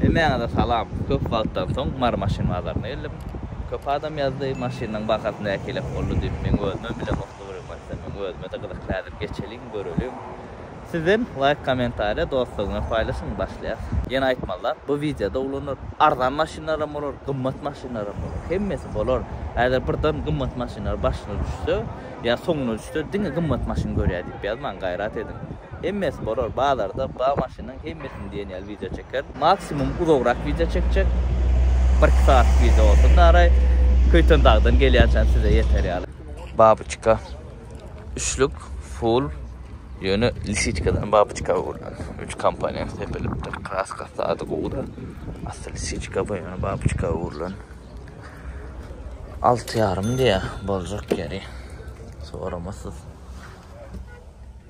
Hemmäňize salam. Köp wagtdan soň Mary maşyn bazaryna geldim. Köp adam ýazdy, maşynyň bahasy nähili boldy diýip, meň özümem bile muhlybrym gatsa, meň özüme-de gyzykly häzir geçeliň, göreliň. Sizden laýk kommentariýa dostlaryňa paýlaşyň, başlaýas. Ýene aýtmaly zat, bu wideoda ulanar, arzan maşynlaram bolar, gymmat maşynlaram bolar, hemmesi bolar. Häzir birden gymmat maşynlar başyna düşse, ýa soňuna düşse, diňe gymmat maşyn görýär diýip ýazmaň, gaýrat ediň. Hemmesi bolar bazarda ba maşynyň hemmesini diýen ýaly wideo çeker. Maksimum uzagrak wideo çekjek. Bir iki sagatlyk wideo bolsun daraý. Köýtendagdan gelýänçäm size ýeter ýaly. Babyçka üçlük full ýöne lisiçkadan babyçka gurlan. Üç komponent sepilipdir. Kraskasy sady gowuda. Asly lisiçka bu ýöne babyçka gurlan. Alty ýarym diýýär boljak ýeri. Soramasyz.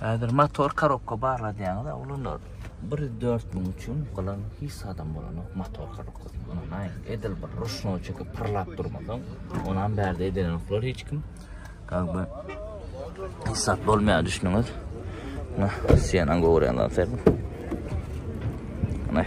Häzir motor korobka barladýaňyz, ulunda 1-4 müň üçin galan hiç zadam bolanok motor korobka. Ondan edil bir ruşnoý çekip pyrlap durmasaň, onam bärde edenoklar hiç kim. Galiba hesap bolmaýar düşünüňiz. Nah, sen an görýänler sen. Nah,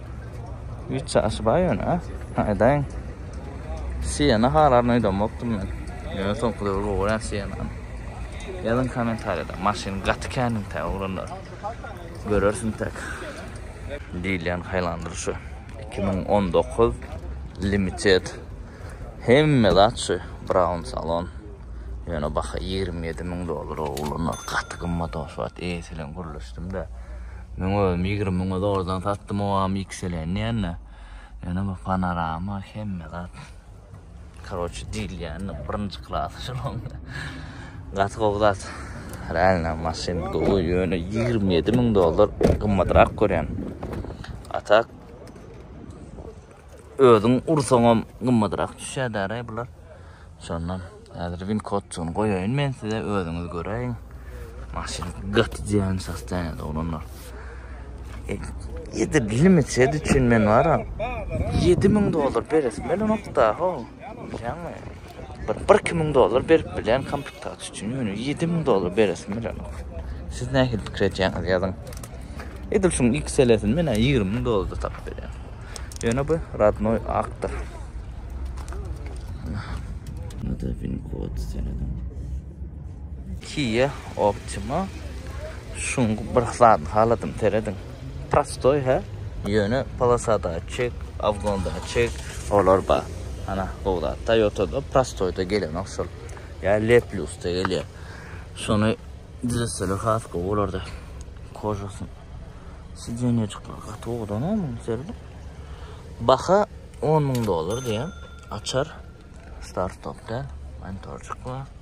Üç çaşy bar ýöne, ha? Aýdaýyň. Siýene halaryn öýdemokdym men. Ýöne soňky döwür gowular siýene. Ýazyň kommentariýada, maşyn gaty käniň tä oglanlar. Görersiň tek. Diýilýän haýlandyr şu. 2019 limited. Hemme zat şu Brown salon. Ýöne baha 27 müň dollar oglanlar. Gaty gymmat oşwat. Eýesilen gürleşdim-de. Men özüm ýigrimi müňe zordan satdym owam ýikselen diýende. Ýöne bu panorama hemme zat. Karoçi diýilýän birinji klas şunuň. Gaty gowy zat. Realna maşyn gowy ýöne ýigrimi ýedi müň dollar gymmatrak görýän. Atak Özüň ursaňam gymmadrak düşýär däraý bular. Şondan häzir win kodçuny goýaýyn men size özüňiz göräýiň. Maşyn gaty diýen sastanyýada oglanlar. Ýedi limit sed üçin men wara 7000 dollar beresim bilenokda ho. Bilýäňmi? bir bir iki müň dollar berip bilýän komplektaciýa üçin ýöne ýedi müň dollar beresim bilenok siz nähili pikir edýäňiz ýazyň edil şuň ikisini men ýigrimi müň dollarda tapyp berýän ýöne bu radnoý akdyr Nada bin kod senedim. Kia Optima. Şuň bir zat haladım seredin. prostoý hä ýöne polosa datçik obgon datçik olar bar ana gowy zat toýotada prostoýda gelenok şol ýa led plusda gelýär şony düzetseler has gowy bolardy kožasy sideniýajyklar gaty owadan oň serli baha on müň dollar diýýär açar start stopda monitorjyk bar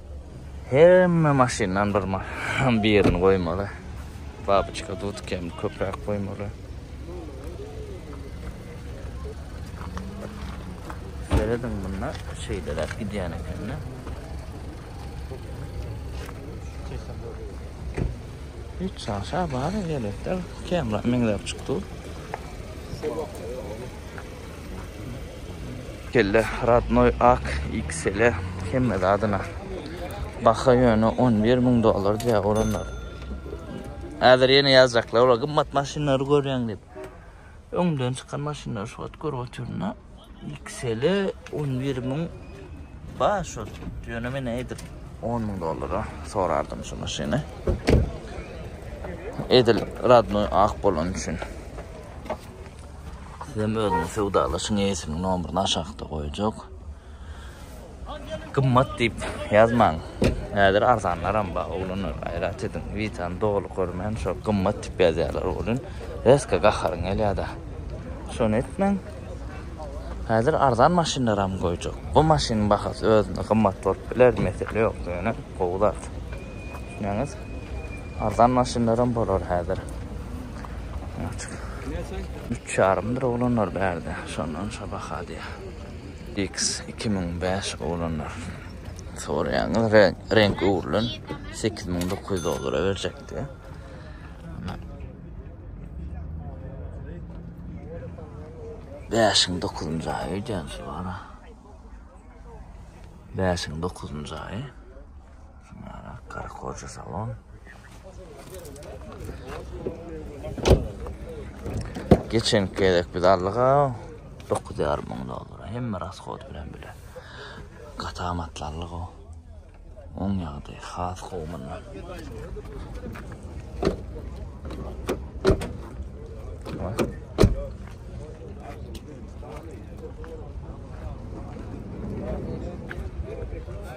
Hemme maşyndan bir maşyn birini goýmaly. Babyçka dudk hem köpräk goýmaly. Seredin bunda şeýleräk gidýän ekende. Hiç şaşa bar elbetde. Kemra meňzäp çykdy. Kelle radnoy ak iksele hemme zadyna. Baha ýöne 11 müň dollar diýýär olanlar. Häzir ýene ýazjaklar olar gymmat maşynlary görýäň diýip. Öňden çykan maşynlar şu wagt görüp otyryn-da. Iksele 11 müň bar şu ýöne men edil 10 müň dollara sorardym şu maşyny. Edil radnoy ak bolan üçin. Sizem özüňiz söwdalaşyň eýesiniň nomerini aşakda goýjak. Gymmat diýip ýazmaň. Häzir arzanlaram bar oglanlar gaýrat ediň. Witany doly görmän şo gymmat diýip ýazýarlar welin reska gaharyň gelýärda. Şony etmäň. Häzir arzan maşynlaram goýjak. Bu maşynyň bahasy özünde gymmat bolup biler mesele ýok ýöne gowy zat. Düşünýäňiz? Arzan maşynlaram bolar häzir. Açyk. Üç ýarymdyr oglanlar bärde. Şondan şo baha diýýä. X2005 oglanlar. Soraýaňyz reňk, reňk öwrülen 8900 dollara berjekdi. Beşiň dokuzuncu aýy öýdýän şu ara. Beşiň dokuzuncu aýy. Ana gark hoja salon. Geçen gezek biz allyga 9 ýarym müň dollara hemme raskot bilen bile. Gata matlanly go. Oň ýagdy has gowmunda.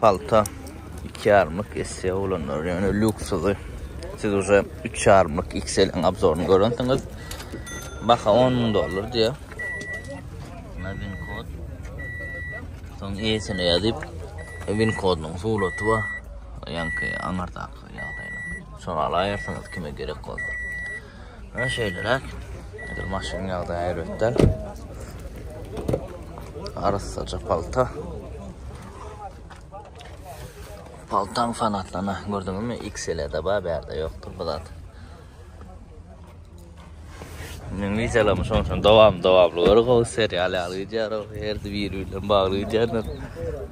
Palta iki ýarymlyk esse oglanlar ýöne lýuksydy. Siz uje üç ýarymlyk XL-iň obzoryny görensiňiz. Baha on müň dollar diýýär. Muna win kod. Soň eýesine ýazyp win kodunyň suraty bar. Ýaňky aňyrdaky ýagdaýynyň. Soralaýarsyňyz kime gerek bolsa. Ana şeýleräk. Dur maşynyň ýagdaýy erbetden. Arassaja palta. Paltaň fanatlana gördüňizmi? XL-de bar, bärde ýokdur bu zat. Men wideolamy şonçan dowam dowamly görüp o serial ýaly gidýär o her biri bilen bagly gidýär.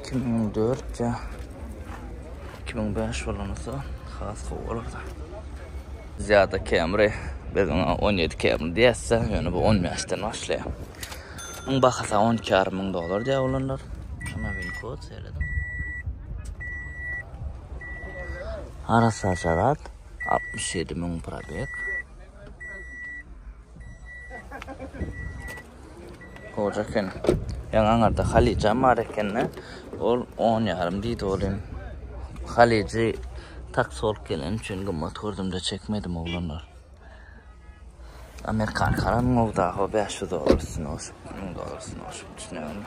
Iki müň dört ya iki müň beş bolanysa has gowy bolardy. Zýada Camry biz oňa on ýedi Camry diýäsde, ýöne bu on bäşden başlaýar. Muň bahasy on iki ýarym müň dollar diýär olanlar. Şuna win kod seýrediň. Arassa şarat, altmyş ýedi müň probeg. Goja eken. Ýaňy aňarda halyjam bar ekende, ol on ýarym diýdi welin, halyjy taksi bolup geleni üçin gymmat gördüm-de çekmedim oglanlar. Amerikanka alan gowy daho bäş ýüz dollar üstüne goşup, müň dollar üstüne goşup, düşüneňizmi?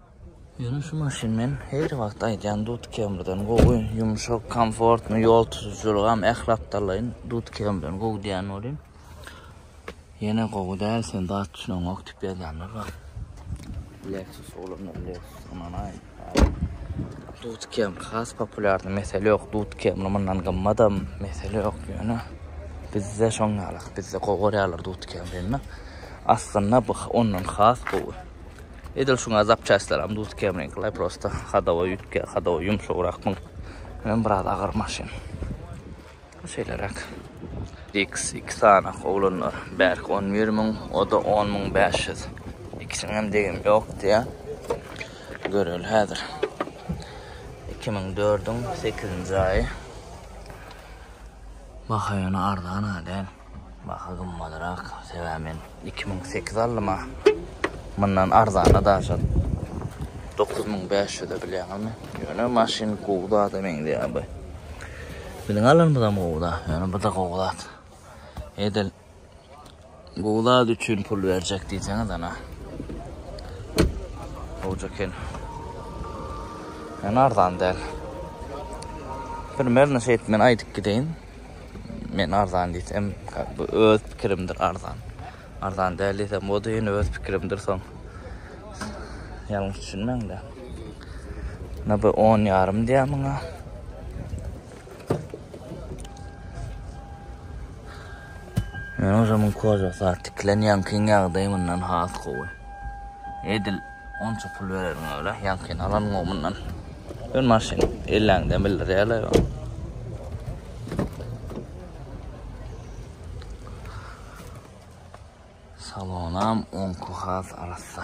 Ýöne şu maşyn men her wagt aýdýan Dut Kemriden gowy, ýumşak, komfortny, ýol tutujylygam ähli aptallaýyn Dut Kemriden gowy diýen welin, ýene gowy däl sen zat düşüneňok diýip ýazýanlar bar. Lexus olanlar Lexus ynanaýyň häzir Dut Kemr has populýardy mesele ýok, Dut Kemr mundan gymmadam mesele ýok, ýöne bizde şoň ýaly, bizde gowy görýärler Dut Kemrini, aslynda bu ondan has gowy. Edil şuňa zapçastlaram duz kemriňkiler prosta hadowa ýütge, hadowa ýumşagrak bu. Hem biraz agyr maşyn. Şeýleräk. X iki sany oglanlar. Bärki 11 müň, o-da 10 müň 500. Ikisiniň hem degimi ýokdy ýa. Göreli häzir. 2004-iň 8-nji aýy. Baha ýöne arzan-a däl. Baha gymmadyrak, sebäbi men iki müň sekiz aldym-a. Mundan arzana daşa dokuz müň bäş ýüze bilýäňizmi? Ýöne maşyn gowy zada meňzeýär bu. Biziň alanymyzam gowy-da, ýöne bu-da gowy zat. Edil gowy zat üçin pul berjek diýseňiz, ana. Gowja eken. Ýöne arzan däl. Primerno şeýdip men aýdyp gideýin. Men arzan diýsem, bu öz pikirimdir arzan. Arzan däl diýsem, o da ýene öz pikirimdir soň. Ýalňyş düşünmäň-de. Na bu 10 ýarym diýýär muňa. Men özüm koža saat tikilen ýaňky ýagdaýy mundan has gowy. Edil Onça pul bererňe öle ýaňkyny alan gowy mundan. Ön maşyn elläňden bildirýärler. Salonam onku has arassa.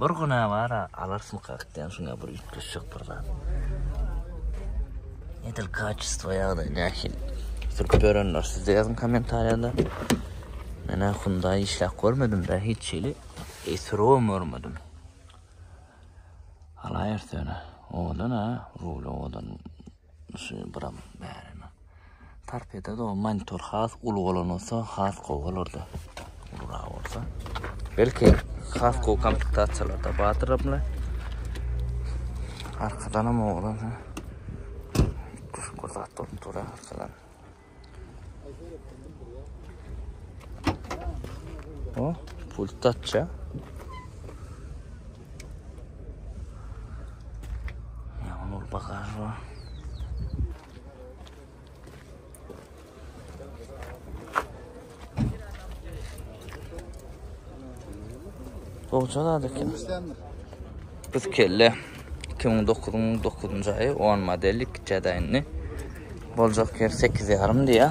Bir güne var a alarsmyka diýen şuňa bir üýtgeşjek bir zat. Edil kaçestvo ýagdaý nähili? Sürüp görenler siz de ýazyň kommentariýada. Menä Hyundai işläp görmedim da hiç hili. Esurum görmedim. Alaýerse öne. Owadan ha, rul owadan. Şu buram bärem. Tarpeda da monitor has uly bolan olsa has gowy bolardy. Ulura olsa. Belki has gowy komplektasiýalar da bardyr bile. Arkadan hem oğlan. Kuş kurzat bolup dur arkadan. O, pult açça. Ya onu bakar var. Goja zat eken. Biz kelle 2009-yň 9-njy aýy 10 modeli kiçä daýyndy. Boljak ýer 8 ýarym diýä.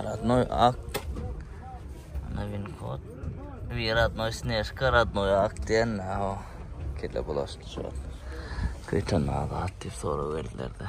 Radnoy ak. Ana win kod. Bir radnoy snežka, radnoy ak diýen o. Kelle bulaşdy şu. Köýten agat diýip sorag berdiler-de.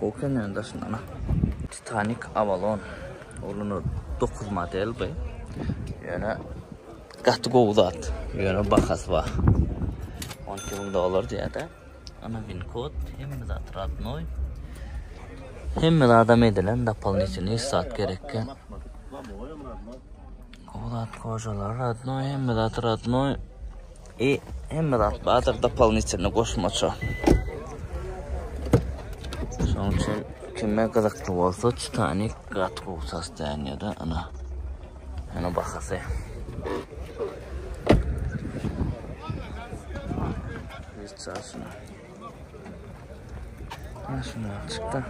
Gokenäň daşyndan-a. Titanik Avalon ulunyr dokuz model bu. Ýöne gaty gowy zat. Ýöne bahasy bar. 12 müň dollar diýýär-de. Ana win kod, hemme zat radnoý. Hemme zadam edilen, dopolnitini hiç zat gerekkä. Gowy zat kojalar radnoý, hemme zat radnoý. I hemme zat bardyr dopolinitelny goşmaça. Şonuň üçin kime gyzykly bolsa Titanik gaty gowy sostoýanýada ana. Ana bahasy. Sasına. Sasına çıktı.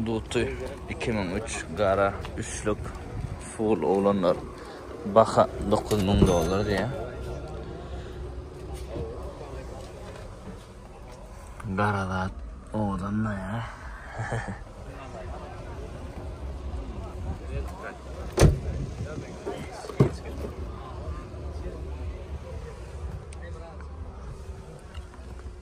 Duty 2003 gara üçlük full oglanlar baha 9000 dollar diye. Garadat odan da ya.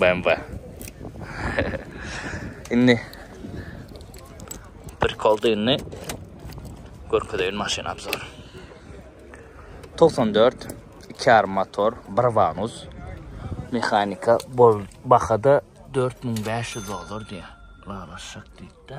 BMW. indi bir koldyny görkezeýin maşyn abzor. 94 2,5 motor, bir vanus. Mehanika bol bahada 4500 dollar diýýär. Lala şak diýdi.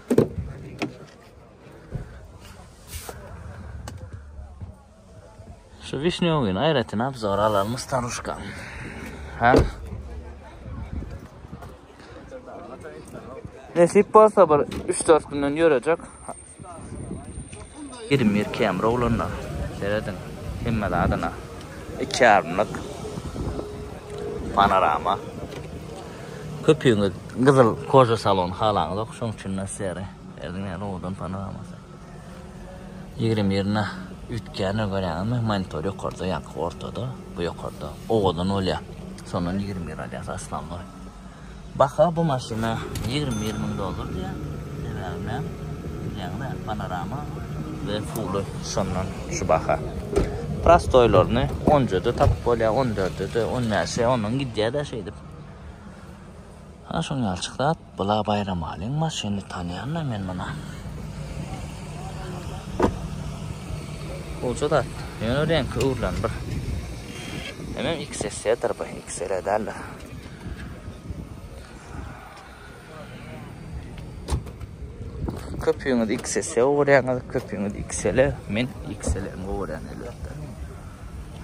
Şu wişnýowyny aýratyn abzor alalmy staruşka. Ha? Nesip bolsa bir 3-4 günden ýörejek. 21 km bolanda. Serediň. Hemme zadyna. 2 ýarymlyk. Panorama. Köpüňiz gyzyl koja salon halaňyzok şoň üçinda seri berdim ýa rowadan panoramasy ýigrimi ýerine üýtgändir görýäňizmi monitor ýokarda ýaňky ortada bu ýokarda owadan bolýa şondan ýigrimi ýer alýas aslanlar baha bu maşyna ýigrimi ýer müň dollar diýýä sebäbi bilen bilýäňizä panorama we fuly şondan şu baha prostoýlaryny onjada tapyp bolýa on dördede on bäşe ondan gidýädä şeýdip Ana şoň ýalçyk zat bula Baýramalyň maşyny tanýanda men muna. Goja zat. Ýöne reňki öwrülen bir. Hemen XSE-dir bu, XL-e däldir. Köpüňiz XS-e öwürýäňiz, köpüňiz XL-e, men XL-e öwürýän elbetde.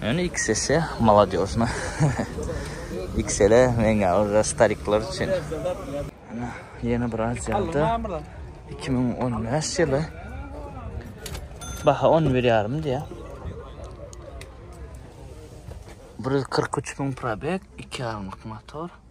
Ýöne XS-e maladýosna. XL-e meňä ora starikler üçin. Ana, ýene bir aziýada 2015 ýyly. Baha 11 ýarym diýýär. 143 müň probek, 2 ýarymlyk motor.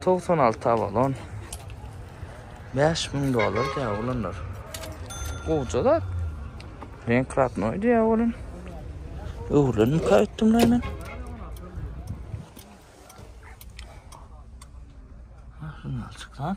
Togsan alty abalon. Bäş müň dollar diýýär oglanlar. Gowja zat. Reň kratnoý diýýär oglan. Öwrenip gaýtdym da men. Şundan çykýar.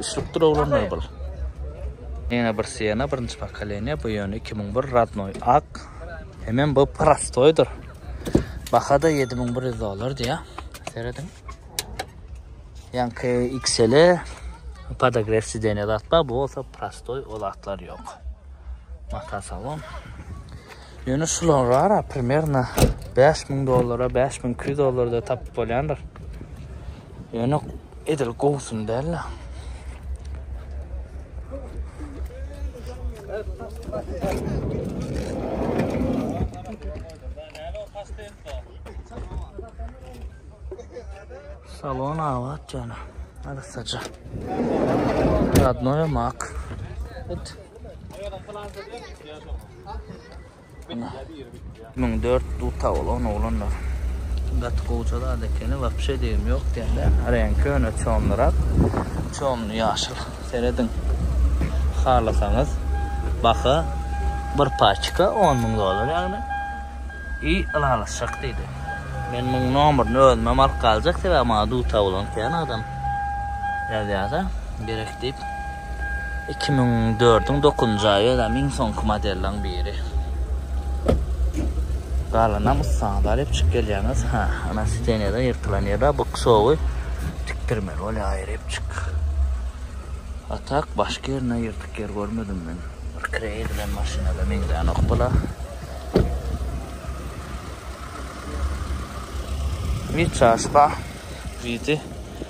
Üçlükdir oglanlar bul. Ýene bir Siena birinji pokoleniýa, bu ýöne iki müň bir radnoý ak. Hemem bu prostoýdyr. Baha-da ýedi müň bir ýüz dollar diýýär. Serediň. Ýaňky XL-e podogref sideniýa zat bar, bu bolsa prostoý, o zatlar ýok. Mata salon. Ýöne şulara primerno bäş müň dollara, bäş müň iki ýüz dollarda tapyp bolýandyr. Ýöne edil gowusyny däl-de. Salon abat jana. Arassaja. Radnoya mak. It. Ana. Müň dört duta ol on oglanlar. Gaty gowja zat ekeni, wapşe degim ýok diýende. Reňki ýöne çomlyrak. Çomly ýaşyl. Serediň. Halasaňyz baha bir paçka on müň dollar ýagny. I ylalaşjak diýdi. Men muň nomerini özümem alyp galjak sebäbi maňa duta bolan kän adam ýazýada. Gerek diýip. Iki müň dördüň dokuzynjy aýy özem iň soňky modellaň biri. Galanam ussaňyz alyp çyk gelýäňiz. Ha, ana sidenýada ýyrtylan ýeri bu ksowy tikdirmeli bolýar aýrypçyk. Atak başga ýerinde ýyrtyk ýer görmedim men. Bir kire edilen maşynada meňzänok bula. Wiçasba widi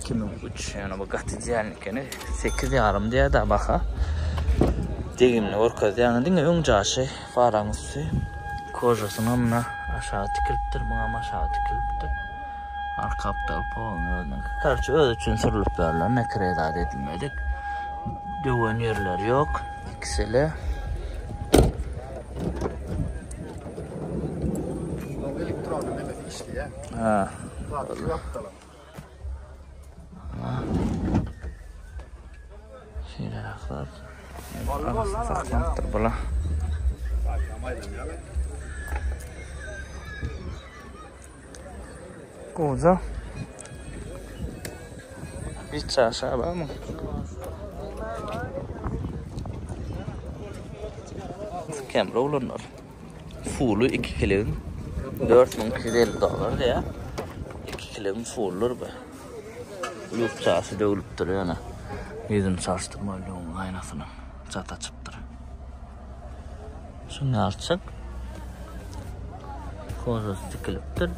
Iki müň üç ýöne bu gaty diýen ekeni. Sekiz ýarym diýýär-dä baha. Degimini görkezýär. Diňe öň jaşy faraň üsti. Kožasyna muna aşagy tikilipdir, muňam aşagy tikilipdir. Arka aptal poluň özüniňki. Karçe özi üçin sürülip berlen, nekrey zat edilmedik. Döwen ýerleri ýok. Ikisele. Elektron, elektron işleýär. Ha. Zat ýok dalan. Şeýle aklar. Arasy saklanypdyr bula. Goza. Bir çaşa var mı? Kemre olunlar. Fuly iki kiligin dört müň iki ýüz elli dollar diýýär. Iki kiligin fuldur bu. Lukçasy döwlüpdir ýöne. Ýüzüni çalyşdyrmaly döwüň aýnasyna. Çat açypdyr. Şuny alçak. Kozasy tikilipdir.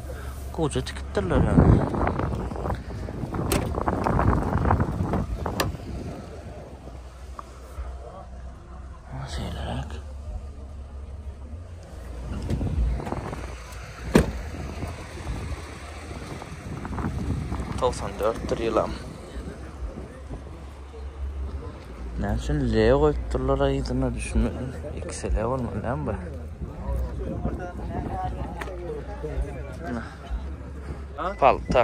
Goja tikipdirler ýöne. Seýleräk. Tavsan dörttür ýylam. Näme üçin L goýup durlar aýdyna düşünmedim. Ikisi L bolmaly näme bu? Palta.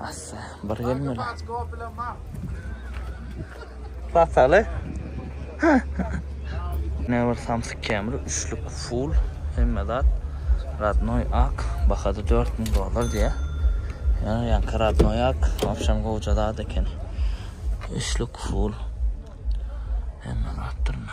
Assa, bir gelmeli. Sasaly. Ne bir samsyk kemri, üçlük full, hemme zat. Radnoy ak, bahada 4000 dolar diye. Yani yankı radnoy ak, akşam kovuca zat eken. Üçlük full. Hemme zat durma.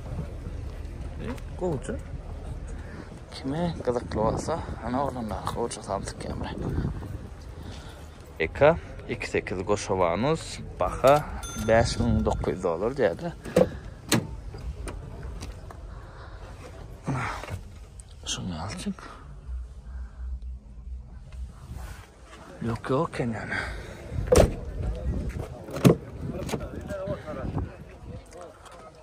Gowça. Kime gyzykly bolsa, ana oglanlar gowça salyp dikýänler. Eka 28 goşawanus, baha 5900 dollar diýýärler. Şunu alçyk. Yok yok yani.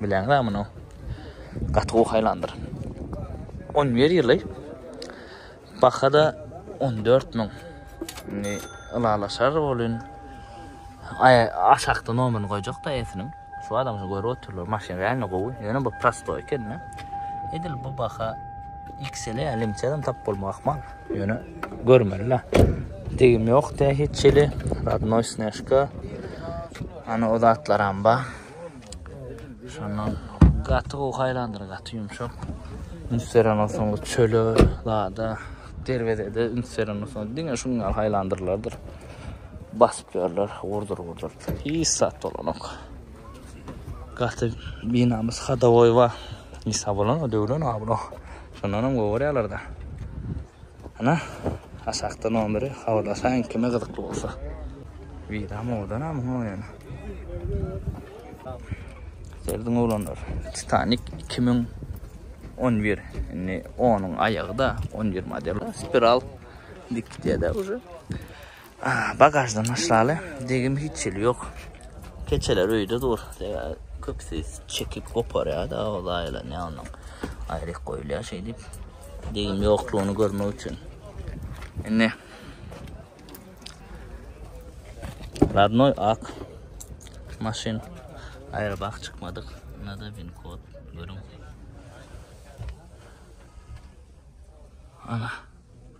Bileň da muny. Gaty gowy haýlandyr. 11 ýyly. Bahada 14 müň. Indi ylalaşar bolun. Ay aşakda nomerini goýjak da esiniň. Şu adam şu görüp oturlar. Maşyn rängi gowy. Ýöne bu prosto eken ne. Edil bu baha XL alimçeden tap bolma ahmal. Ýöne görmeli la. Degim ýok da hiç ýeli. Radnoy sneshka. Ana o zatlaram ba. Şondan gaty gowy haýlandyr, gaty ýumşak. Üns beren olsaň çöle, lada, derwezede üns beren olsaň diňe şuň ýaly haýlandyrlardyr. Basyp ýörler, urdur urdur. Hiç zat bolanok. Gaty binamys hadowoý bar. Nisa bolan o döwlen abro. Şondan hem gowy görýärler-de. Ana aşakda nomeri habarlaşaýyň kime gyzykly bolsa. Wida modan a muňa oýan. Serdiň oglanlar. Titanik 2011 indi onuň aýagyda 11 model spiral diktiýada uje. Bagaždan başlaly, degim hiç hili ýok. Keçeler öýde dur. Köpüsi çekip goparýar-da, ol aýylanýar ondan. Aýryk goýulýar şeýdip. Degim ýoklugyny görmek üçin. Indi Radnoy ak maşyn aýra bak çykmadyk. Nada bin kod görün. Ana.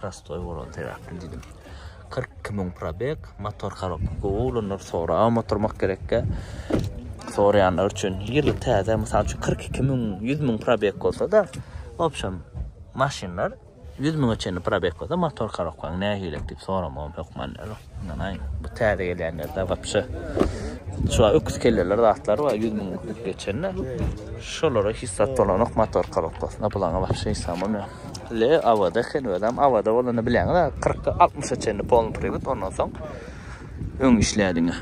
Prostoý bolan sebäpli diýdim. 42 müň probeg, motor harap. Gowy oglanlar soraga oturmak gerekkä. Soraýanlar üçin ýyly täze, mysal üçin 42 müň, 100 müň probeg bolsa-da, obşem maşynlar 100 müňe çenli probeg bolsa motor harap, nähili diýip soramagym hökman. Ynanaýyň, bu täze gelýänlerde wapşe şular öküz kelleler zatlar bar, ýüz müň utup geçende şolara hiç zat dolanok, motorka bakasynda bulaňa wapşe isam bolmaýar. Le awada eken, özem awada bolanda bilýäňiz, kyrk, altmyşa çenli polny priwit, ondan soň öň işleýär diňe.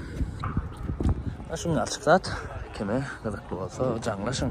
Şuňňalçyk zat, kime gyzykly bolsa jaňlaşyň.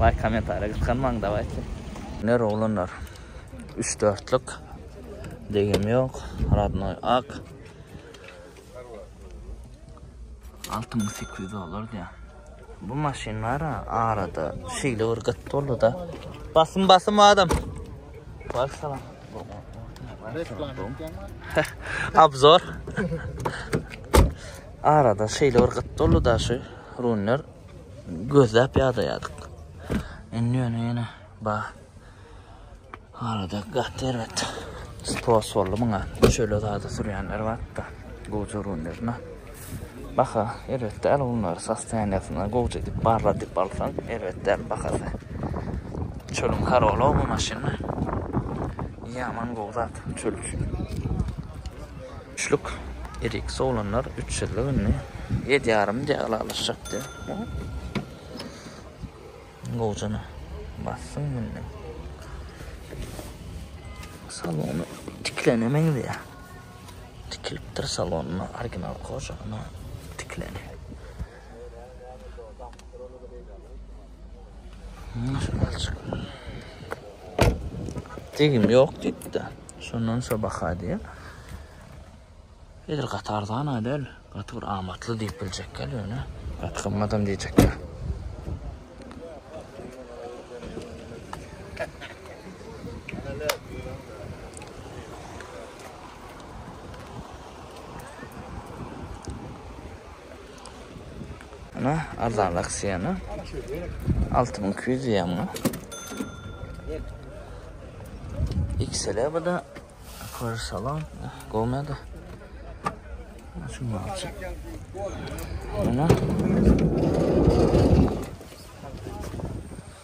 Baý kommentariýa gysganmaň dawayçy. Iner oglanlar üç dörtlük degim yok radnoy ak altı müň sekiz ýüz dollar diýýär. Bu maşynlar arada şeýle bir gyt boldy da. Basym basym adam. Bar salam. Abzor. Arada şeýle bir gyt boldy da şu runlar. gözläp ýadaýardyk. Indi ýöne ýene ba. Arada gaty erbet. Stos boldy muňa. Şöyle zada sürýänler batda. Goja rundyrna. Baka erbet däl bunlar sostoýanýasyna goja edip barra edip alsaň erbet däl bakasy. Çölüň karola bu maşyny. Ýaman gowy zat çöl üçin. Üçlük eriksi oglanlar üçsizlik indi. Ýedi ýarym diýýär ylalaşjak diýýär. Gowjana bassyň indi. Salon tiklene meňzeýär. Tikilipdir salonda original kožagyna tikleni. Degim ýok diýipdi. Şondan şo baha diýip, edil gaty arzan-a däl, gaty bir amatly diýip biljekgel, ýöne gaty gymmatam diýjekgel. Ana arzan aksiýany. 6200 diýýär muňa. XL bu da Kör salon. Gowmady. Şunu alçak. Ana.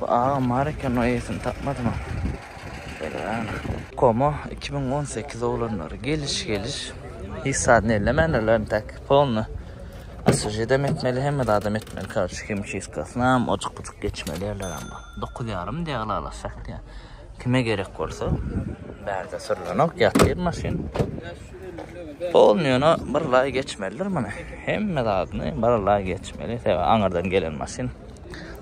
Bu agam bar eken o eýesini tapmadymam. Beregana. Koma iki müň on sekiz oglanlary geliş geliş. Hiç zadyny ellemändirlermi tak polny Asujidem etmeli hemme zadam etmeli karşy himçiskasynam oçuk buçuk geçmeli ýerler amma dokuz ýarym diýýär ylalaşjak diýýär kime gerek bolsa bärde sürlenok ýatyr maşyn polny ýöne bir laý geçmelidir muny hemme zadyny bir laý geçmeli sebäbi aňyrdan gelen maşyn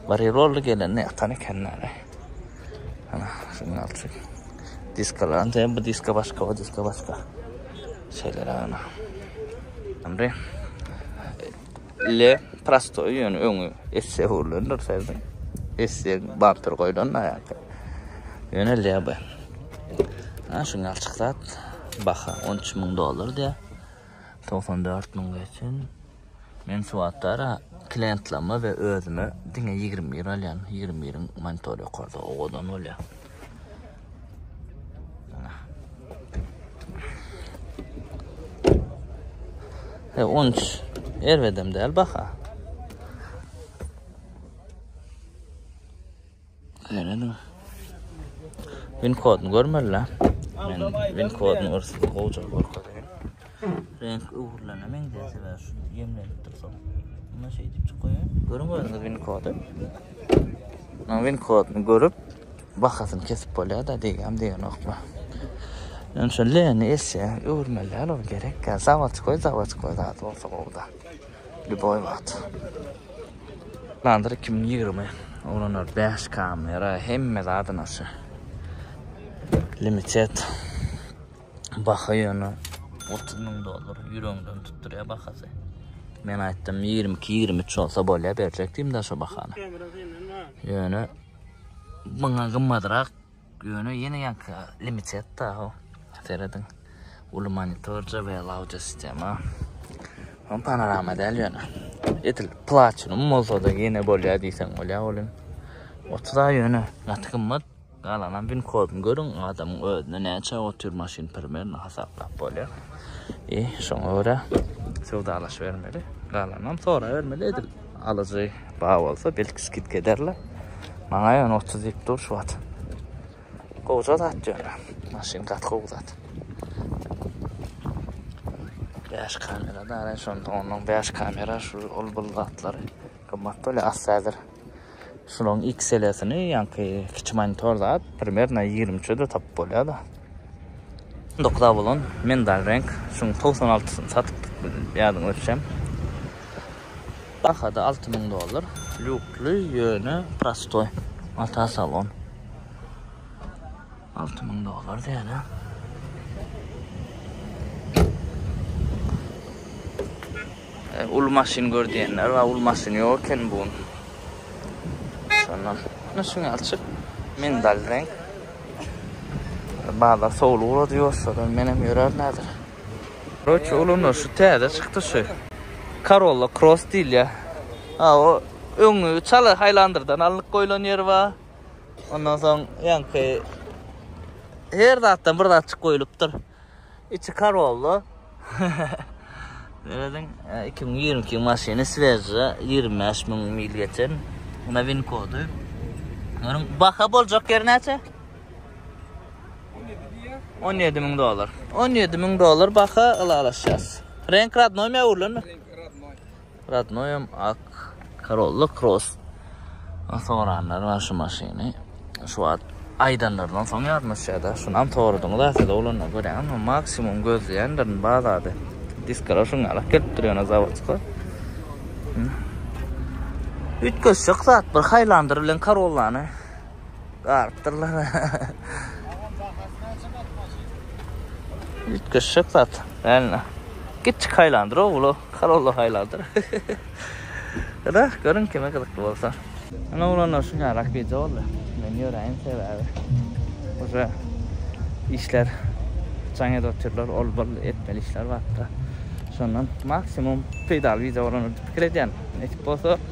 Bir ýyl boldy gelende ýatan ekenler-eý. Ana, şunuň ýaly diskalarym. Sen bu diska başga, o diska başga. Şeýle-de ana. Indi le prostoý ýöne öňi esse hurlandyr sezdim. Esse bamper goýlan da ýa-da. Ýöne le bu. Ha, şunuň ýaly çyksa baha 13 müň dollar diýýär. 94 müň geçen. Men suwatdara klientlerime we özüme diňe ýigrimi bir alýan. Ýigrimi biriň monitory ýokarda owadan bolýar. E, on üç erbedem däl baha. Ýöne Win kodunu görmeli la. Men win kodunu görsün gowja görkezýän. Renk öwrülene meňzeýär sebäbi şu ýemlenip dursa. Buna şey diýip çykaýar. Görüň özüňiz win kodu. Men win kodunu görüp bahasyny kesip bolýar da diýýän diýenokma. Men şu leni esse öwrülmeli ol gerek. Zawodskoý zawodskoý zat bolsa gowda. Ljuboý wagt. Landyr iki müň ýigrimi ulanýar bäş kamera hemme zady naşa. Limited baha ýöne otuz müň dollar ýüregiňden tutdurýar bahasy. Men aýtdym ýigrimi iki ýigrimi üç bolsa bolýar berjek diýdim daşa bahany. Ýöne muňa gymmadrak Göni ýene ýaňky limited da ho. Serediň. Uly monitor JBL audio sistema. Hom panorama däl ýöne. Edil platinum bolsa-da ýene bolýar diýseň bolýar olim. Otura ýöne gaty gymmat. Galanam win koduny görüň, adamyň özüne näçe otyr maşyn primerno hasaplap bolýar. I şoňa görä söwdalaşybermeli. Galanam sorabermeli edil. Alyjy bar bolsa belki skidka ederler. Maňa ýöne 30 diýip dur şu wagt. Gowja zat ýöne. Maşyn gaty gowy zat. 5 kamera da ara şonda onuň 5 kamera şu ol bul zatlary gymmat bolýar asla hazır. Şunuň XL-sini ýaňky kiçi monitor zat primärno 23-e de tapyp bolýar da. Dokuz A bolan mendal reňk, şuň togsan altysyny satyp ýadyňa düşem. Bahada alty müň dollar. Lýukly ýöne prostoý. Mata salon. Alty müň dollar diýýärler. Uly maşyn gör diýenler bar, uly maşyn ýok eken bu gün. Şondan. Ýöne şuň ýaly çyk. Mendal reňk. Bazar sowul ugrady ýoşsadan menem ýörärin häzir. Roçi uluna şu täze çykdy şu. Karolla Cross diýilýär. Ha o öňi çala Haylanderdan alnyp goýlan ýeri bar. Ondan soň ýaňky her zatdan bir zatçyk goýlupdyr. İçi kar oldu. Görediň 2022 maşyny svežja 25 müň mil geçen. Buna vin kodu. Görün baha bolacak yer näçe? 17 müň dolar. 17 müň dolar baha alalaşacağız. Renk radnoy mi öwrülen mi? Radnoýam ak. Corolla Cross soranlar bar şu maşyny. Şu wagt aýdanlaryndan soň ýadyma düşýärda. Şunam soradyňyz aslynda oglanda görýäňizmi? Maksimum gözleýändirin bazarda. Diskalar şuň ýalak gelip dur ýöne zawodska. Üýtgeşjek zat bir haýlandyr bilen Corollany. Garypdyrlar. Agam bahasy näçe gat maşyn? Üýtgeşik zat. Näme? Kiçi haýlandyr o uly Corolla haýlandyr. Ýa-da görüň kime gyzykly bolsa. Ine oglanlar şu ýarak gije boldy. Men ýöräýin sebäbi uje işler jaň edip otyrlar, ol-bul etmeli işler bar-da. Şondan maksimum peýdaly wideo bolar diýip pikir edýän. Nesip bolsa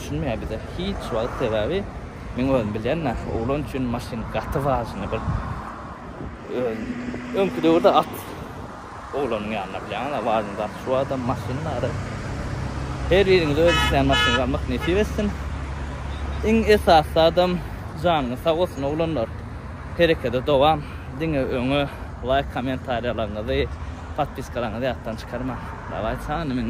düşünmeýär bize hiç wagt sebäbi men özüm bilýän nahý oglan üçin maşyn gaty wajyny bir öňki döwürde at oglanyň ýanyna bilýäňiz wajyny zat şu adam maşyn bary her biriňize öz isleýän maşynyňyzy almak nesip etsin iň esasy adam janyňyz sag bolsun oglanlar herekede dowam diňe öňe laýk kommentariýalaryňyzy podpiskalaryňyzy ýatdan çykarmaň dawaý çany men